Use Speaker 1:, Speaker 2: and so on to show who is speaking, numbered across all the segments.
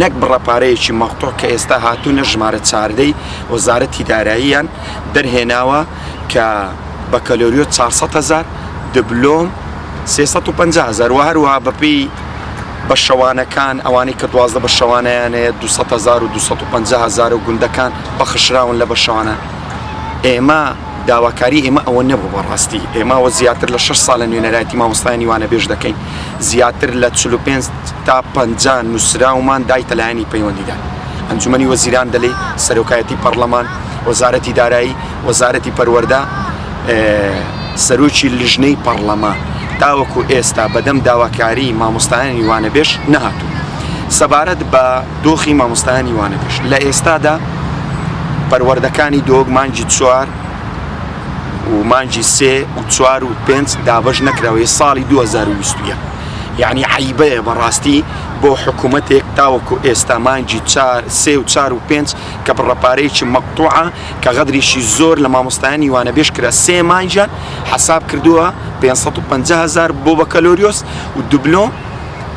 Speaker 1: نەک بڕە پارەیەکی مەقتوع کە ئێستا هاتوونە ژمارە چواردە ی وەزارەتی داراییان دەرهێناوە کە بەکەلۆریۆس چوار سەد هەزار دبلۆم سێ سەد و پەنجا هەزار وە هەروەها بەپێی بەشەوانەکان ئەوانەی کە دوازدە بەشەوانەیان هەیە دوو سەد هەزار و دوو سەد و پەنجا هەزار و گوندەکان بەخشراون لە بەشەوانە ئێمە داواکاری ئێمە ئەوە نەبوو بەڕاستی ئێمە وە زیاتر لە شەش ساڵە نوێنەرایەتی مامۆستایانی وانەبێژ دەکەین زیاتر لە چل و پێنج تا پەنجا نوسراومان دایتە لایەنی پەیوەندیدار، ئەنجومەنی وەزیران دەلێی، سەرۆکایەتی پەڕلەمان، وەزارەتی دارایی، وەزارەتی پەروەردە، سەرۆکی لیژنەی پەڕلەمان، تاوەکو ئێستا بەدەم داواکاری مامۆستایانی وانەبێژ نەهاتوون. سەبارەت بە دۆخی مامۆستایانی وانەبێژ لە ئێستادا پەروەردەکانی دۆک مانگی چوار و مانگی سێ و چوار و پێنج دابەش نەکراوە، یە ساڵی دوو هەزار و بیست و یەک. یانی عەیبەیە بەڕاستی بۆ حکومەتێک تاوەکو ئێستا مانگی چار سێ و چار و پێنج کە بڕە پارەیەکی مەقتوعە کە غەدریشی زۆر لە مامۆستایانی وانەبێژ کرا سێ مانگیان حەساب کردووە پێنج سەد و پەنجا هەزار بۆ بەکەلۆریۆس و دوبلۆم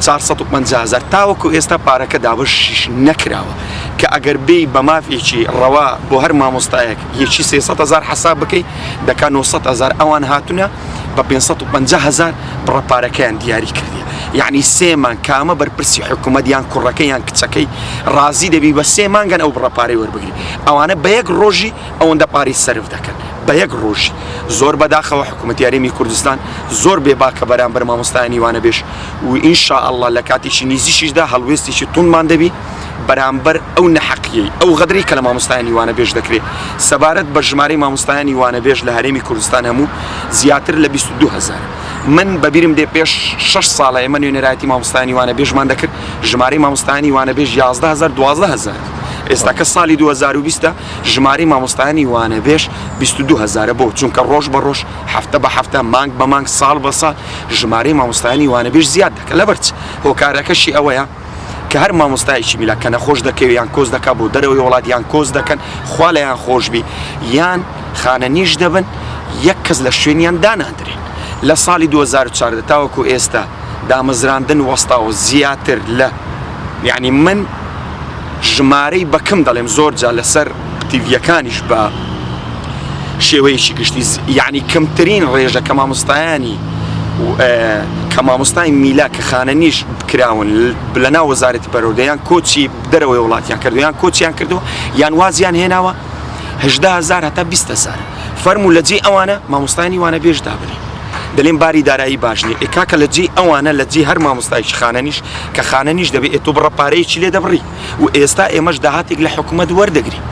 Speaker 1: چار سەد و پەنجا هەزار تاوەکو ئێستا پارەکە دابەشیش نەکراوە کە ئەگەر بێی بە مافێکی ڕەوا بۆ هەر مامۆستایەک یەکی سێ سەد هەزار حەساب بکەی دەکا نۆ سەد هەزار ئەوان هاتوونە بە پێنج سەد و پەنجا هەزار بڕە پارەکەیان دیاری کردی یعنی سێ مانگ کامە بەرپرسی حکوومەت یان کوڕەکە یان کچەکەی ڕازی دەبی بە سێ مانگەن ئەو بڕە پارەی وەربگری ئەوانە بە یەک ڕۆژی ئەوەندە پارەی سرف دەکەن بە یەک ڕۆژی زۆر بەداخەوە حکوومەت یاریمی کوردستان زۆر بێباکە بەرامبەر مامۆستایانی وانە بێش و ئینشاءله لە کاتێکی نیزیشیشدا هەڵوێستێکی تونمان دەبی بەرامبەر ئەو نەحەقیەی، ئەو غەدرەی کە لە مامۆستایانی وانەبێژ دەکرێ. سەبارەت بە ژمارەی مامۆستایانی وانەبێژ لە هەرێمی کوردستان هەموو، زیاتر لە بیست و دوو هەزار. من بە بیرم دێ پێش شەش ساڵە ئێمە نوێنەرایەتی مامۆستایانی وانەبێژمان دەکرد، ژمارەی مامۆستایانی وانەبێژ یازدە هەزار، دوازدە هەزار بوو. ئێستا کە ساڵی دوو هەزار و بیست ە، ژمارەی مامۆستایانی وانەبێژ بیست و دوو هەزارە. بۆ؟ چونکە ڕۆژ بە ڕۆژ، هەفتە بە هەفتە، مانگ بە مانگ، ساڵ بە ساڵ ژمارەی مامۆستایانی وانەبێژ زیاد دەکا. لەبەر چ؟ هۆکارەکەشی ئەوەیە. کە هەر مامۆستایەکی میلا کە نەخۆش دەکەوێت یان کۆز دەکات بۆ دەرەوەی وڵات یان کۆز دەکەن خوا لەیان خۆشببی یان خانە نیش دەبن یەک کەس لە شوێنیان دانادرێن لە ساڵی 2014 تاوەکو ئێستا دامەزراندن وەستاوە زیاتر لە یعنی من ژمارەی بەکم دەڵێم زۆر جا لەسەر ئەکتیڤیەکانیش بە شێوەیەکی گشتی یعنی کەمترین ڕێژە کە مامۆستایانی کە مامۆستای میلا کە خانە نیش کراون لە ناو وەزارەتی پەرۆدەیان کۆچی دەرەوەی وڵاتیان کردویان کۆچیان کردو یان وازیان هێناوە هزار هەتا بیهزار فەرمو لە جێ ئەوانە مامۆستانی وانە بێژ دابنی دەلێن باری دارایی باشنی ئێکاکە لە جێ ئەوانە لە جێ هەر مامۆستایش خانەنیش کە خانەنیش دەبێت ئێتۆ بڕە پارەیەکی لێ دەبڕی و ئێستا ئێمەش داهاتێک لە حکومەت وەردەگرین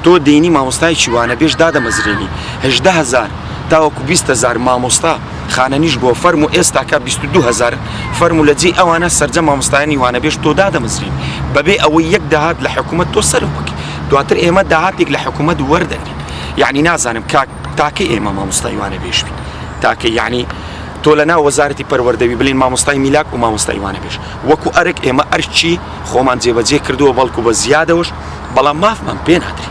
Speaker 1: تۆ دێنی مامۆستایەکی وانە بێژ دادەمەزرێنی هەژدە هەزار تاوەکو بیست هەزار مامۆستا خانەنیش بۆ فەرموو ئێستا کە بیست و دوو هەزار فەرموو لە جێی ئەوانە سەرجەم مامۆستایانی وانە بێژ تۆ دادەمەزرێنی بەبێ ئەوەی یەک داهات لە حکومەت تۆ سەرف بکەی دواتر ئێمە داهاتێک لە حکومەت وەردەگرین یەعنی نازانم کاک تاکەی ئێمە مامۆستای وانە بێژ بین تاکەی یەعنی تۆ لەناو وەزارەتی پەروەردەوی بلێن مامۆستای میلاک و مامۆستای وانە بێژ وەکو ئەرک ئێمە ئەرکی خۆمان جێبەجێ کردووە بەڵکو بە زیادەوەش بەڵام
Speaker 2: مافمان
Speaker 1: پێ نادرێت.